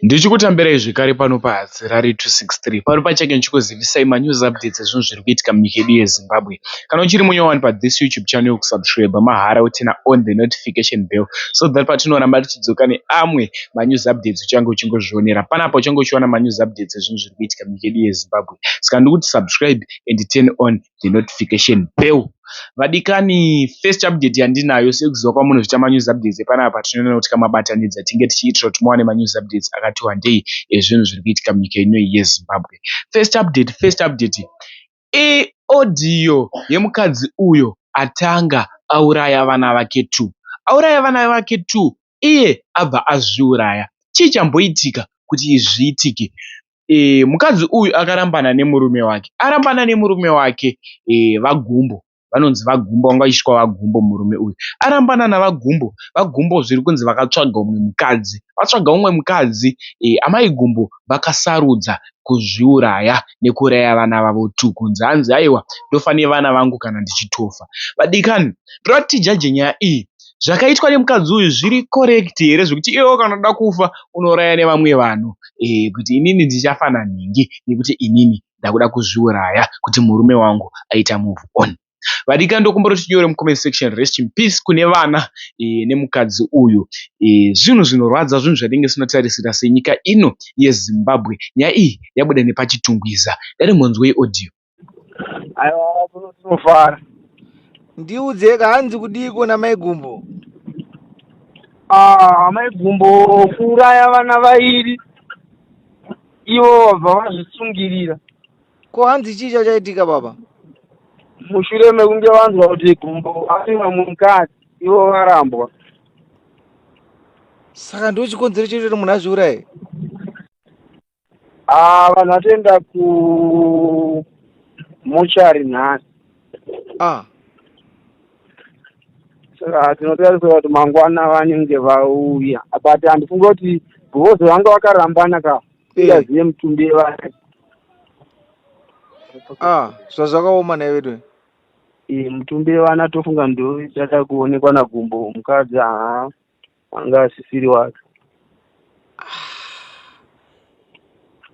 Ndichikutambirai zvekare pano pa Harare 263 pari pachake ndichikuzivisai ma news updates ezvinhu zviri kuitika munyika yedu ye Zimbabwe. Kana uchiri munya wani pa this YouTube channel ku subscriber mahara woturner on the notification bell so that patinoramba tichidzoka ne amwe ma news updates uchange uchingozvionera panapa uchange uchiwana ma news updates ezvinhu zviri kuitika munyika yedu ye Zimbabwe. Saka ndikuti subscribe and turn on the notification bell vadikani first update yandinayo sekuziva kwamunozvita manews updates epanapa tinoona kuti kamabatanidza tinge tichiitira kuti muwane manews updates akati wandei ezvinhu zviri kuitika munyika ino yezimbabwe first update first update iodhiyo yemukadzi uyo atanga auraya vana vake two auraya vana vake two iye abva azviuraya. Chii chamboitika kuti izvi zviitike? Eeh mukadzi uyu akarambana nemurume wake. Arambana nemurume wake eeh vaGumbo. Vanonzi vaGumbo vanga vachisvika vaGumbo murume uyu. Arambana navaGumbo. VaGumbo zviri kunzi vakatsvaga umwe mukadzi. Vatsvaga umwe mukadzi eeh amai Gumbo vakasarudza kuzviuraya nekuuraya vana vavo two kunzi hanzi haiwa ndofa nevana vangu kana ndichitofa. Vadikani ndoda kuti tijaje nyaya iyi zvakaitwa nemukadzi uyu zviri correct here zvekuti iwewe kana unoda kufa unouraya nevamwe vanhu eh, kuti inini ndichafa nanhingi nekuti inini ndakuda kuzviuraya kuti murume wangu aita move on vadika ndokumbira kuti tinyore mucomment section rest in peace kune vana eh, nemukadzi uyu eh, zvinhu zvinorwadza zvinhu zvatinenge sinotarisira senyika ino yezimbabwe nyaya iyi yabuda nepachitungwiza dare monzwei audio aiwa kuno tinofara ndiudzeka hanzi kudiiko namai gumbo Ah, amai gumbo kuuraya vana vairi ivo vabva vazvisungirira ko hanzi chii chachaitika baba mushure mekunge vanzwa kuti gumbo ari vamwe mukadzi ivo varambwa saka ndo chikonzero chekuti munhu azviuraye Ah, vanhu vatoenda ku mochari nhasi ah saka tinotarisira kuti mangwana vanenge vauya but handifunge kuti govozo vanga vakarambana ka Eh. ingazive mutumbi vake ah zvazvakaoma naye vedu Eh, mutumbi vana tofunga ndochada kuonekwa nagumbo mukadzi haa anga asisiri wake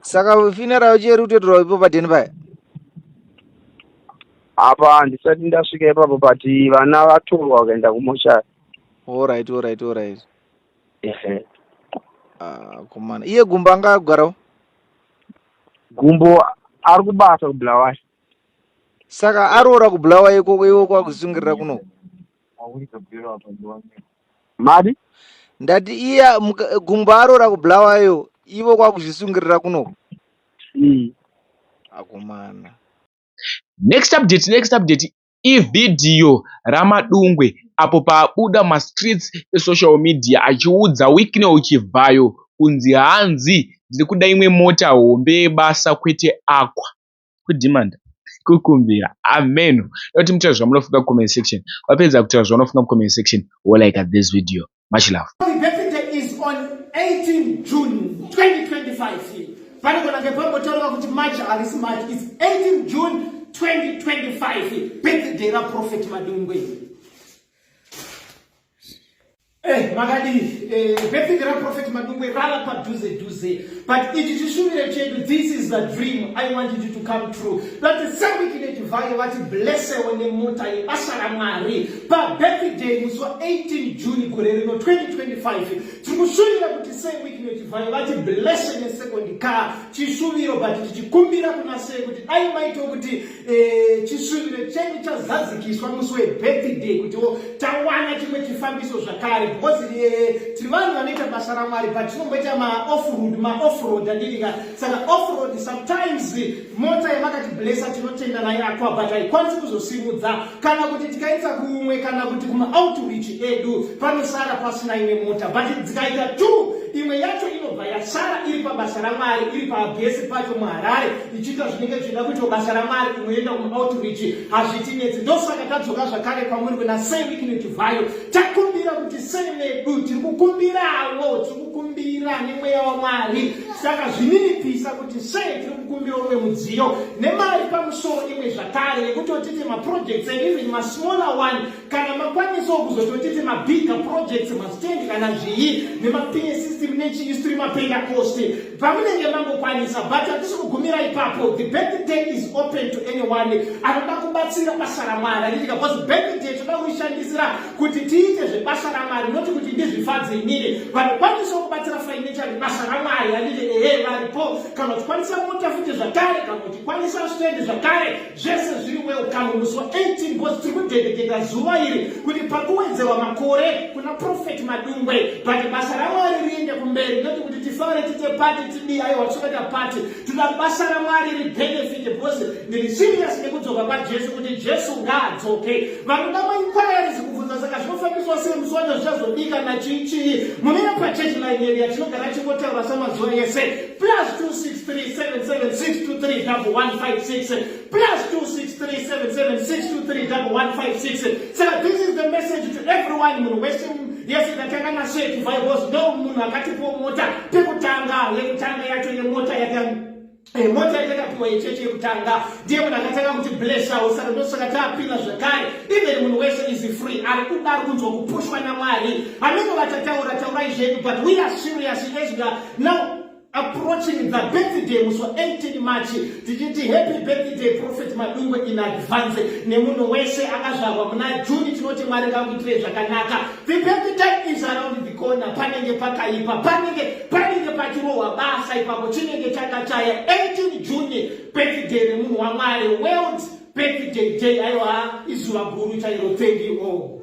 saka funeral cheri utoitirwa ipo padheni paya apa handisati ndasvika ipapo but vana vatorwa vakaenda kumoshari orit orit orit ah, komana iye gumbo anga agarawo gumbo ari kubasa kubulawayo saka aroora kubulawayo ikoko iwe kwakusungirira kunoko Mari? Ndati iya muka- gumbo arora kubulawayo ivo kwakuzvisungirira kuno. Ii. Akomana. Next update, next update ivhidhiyo raMadungwe apo paabuda mumastreets esocial media achiudza Wicknell Chivhayo kunzi hanzi ndiri kuda imwe mota hombe yebasa kwete Aqua. kudhimanda kukumbira ameno nekuti mutaura zvamunofunga kucomment section vapedza kutaura zvaunofunga mucomment section wolaika this video much love panogona kunge pambotaurwa kuti march harisi march its 18 june 2025 birthday raprofet madungwe Eh, makadii eh, birthday raprofet madungwe rava padhuze dhuze but ichi chishuviro chedu this is the dream i want you to come true vati sekukinetivhayo vati blessewo nemota yebasa ramwari pabirthday musi wa18 june gore rino 2025 tiri kushuvira kuti sekukinetivhayo vati blesse nesekondi car chishuviro but tichikumbira kuna sei kuti dai maito kuti Eh, chisvibiro chenyu chazadzikiswa musi webirthday kutiwo tawana chimwe chifambiso zvakare because eh, tiri vanhu vanoita basa ramwari but tinomboita maoffroad maoffroad andirika saka offroad sometimes mota yamakati blessa tinotenda nayo akwa but haikwanisi kuzosimudza kana kuti tikaisa kumwe kana kuti kuma outreach edu panosara pasina imwe mota but dzikaita two imwe yacho inobva yasara iri pabasa ramwari iri pabhesi pacho muharare ichiita zvinenge zvichida kuitwa basa ramwari inoenda kuma outreach hazvitinetsi ndosaka tadzoka zvakare kwamuri kuna sei wikineti vayo takumbira kuti sei medu tiri kukumbirawo tiri kukumbira nemweya wamwari saka zvininipisa kuti sei tiri kukumbira umwe mudziyo nemari pamusoro imwe zvakare yekutotiti maprojects and even masmaller one kana makwanisawo kuzototiti mabigger projects mastand kana zviyi nemapinye system nechii sitiri mapenda cost pamunenge mangokwanisa but hatisi kugumira ipapo the birthday is open to anyone anoda kubatsira basa ramwari ritika bcause birthday toda kurishandisira kuti tiite zvebasa ramwari noti kuti ndizvifadze inini vanokwanisa kubatsira financially basa ramwari anine ehe varipo kana uchikwanisa mota futi zvakare kana uchikwanisa stendi zvakare zvese zviri welcome musi wa 18 bcause tiri kudedeketa zuva iri kuti pakuwedzerwa makore kuna profet madungwe but basa ramwari riende kumberi noti kuti tifare tite pati tidii aiwa tisokaita pati tinoda basa ramwari ribenefite bcause ndiri serious nekudzoka kwajesu kuti jesu ngaadzoke vanoda mainquiries kubvunza saka zvinofambiswa sei musi wacho zvichazodika nachii chii mumire pachurch line yedu yatinogara chingotaura samazuva ese plus 26377623156 plus 26377623156 saka this is the message to everyone munhu wese yese ndatanga naswetu vaiwos ndo munhu akatipo mota pekutanga yekutanga yacho yemota yaka Eh, mota yatakapiwa yechechi yekutanga ndiye munhu akatanga kuti blessawo saka ndosaka tapina zvakare even munhu wese is free ari kuda ari kunzwa kupushwa namwari anenge vatataura taurai zvedu but we are serious as we are now approaching the birthday musi wa 18 march tichiti happy birthday prophet madungwe in advance nemunhu wese akazvarwa muna juni tinoti mwari ngakuitire zvakanaka The perfect time is around the corner. Panenge pakaipa, panenge panenge pachirohwa basa ipapo chinenge chakachaya 18 June birthday remunhu waMwari world birthday day aiwa izuva guru chairo thank you all.